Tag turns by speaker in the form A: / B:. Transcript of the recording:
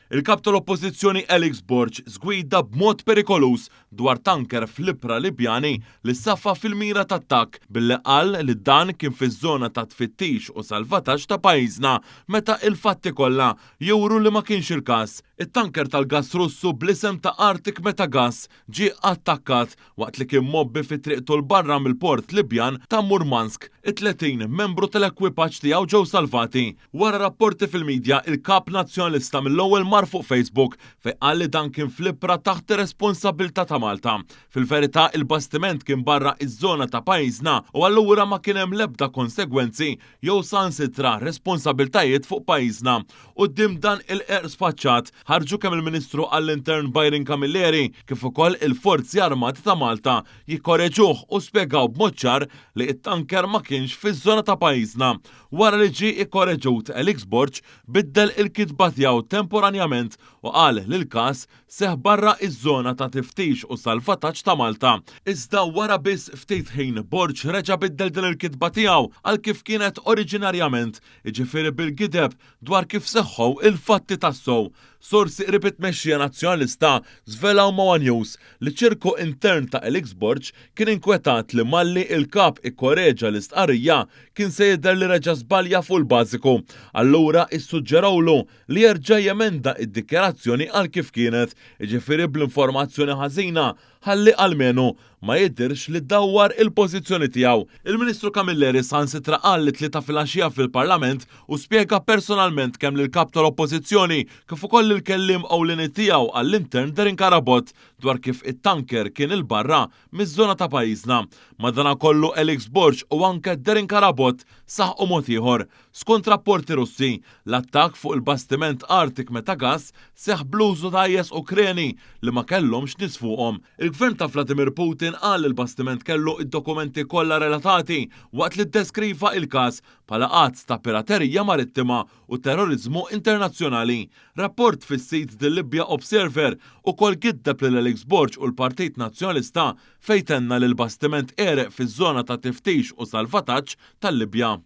A: Il-Kap tal-Oppożizzjoni Alex Borg żgwida b'mod perikoluż dwar tanker fl-ibħra Libjani li safa fil-mira ta' attakk billi qal li dan kien fiż-żona ta' tfittix u salvataġġ ta' pajjiżna meta il-fatti kollha juru li ma kienx il-każ. It-tanker tal-gass Russu bl-isem ta' Arctic Meta Gas ġie attakkat waqt li kien mgħobbi fi triqtu 'l barra mill-port Libjan ta' Murmansk. It-30 membru tal-ekwipaġġ tiegħu ġew salvati. Wara rapporti fil-midja, il-Kap Nazzjonalista mill-ewwel mar fuq Facebook fejn qal li dan kien fl-ibħra taħt ir-responsabbiltà ta' Malta. Fil-verità, il-bastiment kien barra iż-żona ta' pajjiżna u allura ma kien hemm l-ebda konsegwenzi jew saħansitra responsabbiltajiet fuq pajjiżna. Quddiem dan il-qerq sfaċċat, ħarġu kemm il-Ministru għall-Intern Byron Camilleri kif ukoll il-Forzi Armati ta' Malta jikkoreġuh u spjegaw b'mod ċar li t-tanker ma kienx fiż-żona ta' pajjiżna. Wara li ġie ikkoreġut, Elix Borg biddel il-kitba tiegħu temporanjament u qal li l-każ seħħ barra iż-żona ta' tiftix u salvataġġ ta' Malta. Iżda wara biss ftit ħin Borg reġa' biddel din il-kitba tiegħu għal kif kienet oriġinarjament, jiġifieri bil-gideb dwar kif seħħu l-fatti tassew. Sorsi qrib it-tmexxija Nazzjonalista żvelaw ma' one News li ċirku intern ta' Elix Borg kien inkwetat li malli il-Kap ikkoreġa l-istqarrija kien se jidher li reġa' żbalja fuq il-bażiku. Allura issuġġerawlu li jerġa' jemenda id-dikjarazzjoni għal kif kienet, jiġifieri bl-informazzjoni ħażina, ħalli almenu ma jidhirx li dawwar il-pożizzjoni tiegħu. Il-Ministru Camilleri saħansitra qal it-Tlieta filgħaxija fil-Parlament u spjega personalment kemm lill-Kap tal-Oppożizzjoni kif ukoll lill-Kelliem Ewlieni tiegħu għall-Intern Darren Carabott dwar kif it-tanker kien 'il barra miż-żona ta' pajjiżna. Madanakollu Alex Borg u anke Darren Carabott saħqu mod ieħor Skont rapporti Russi, l-attakk fuq il-bastiment Arctic Metagas seħħ bl-użu ta' IS Ukreni li ma kellhomx nies fuqhom. Il-Gvern ta' Vladimir Putin qal li l-bastiment kellu d-dokumenti kollha relatati waqt li ddeskriva il-każ bħala att ta' piraterija marittima u terroriżmu internazzjonali. Rapport fis-sit The Libya Observer ukoll giddeb lil Alex Borg u l-Partit Nazzjonalista fejn tenna li l-bastiment għereq fiż-żona ta' tiftix u salvataġġ tal-Libja.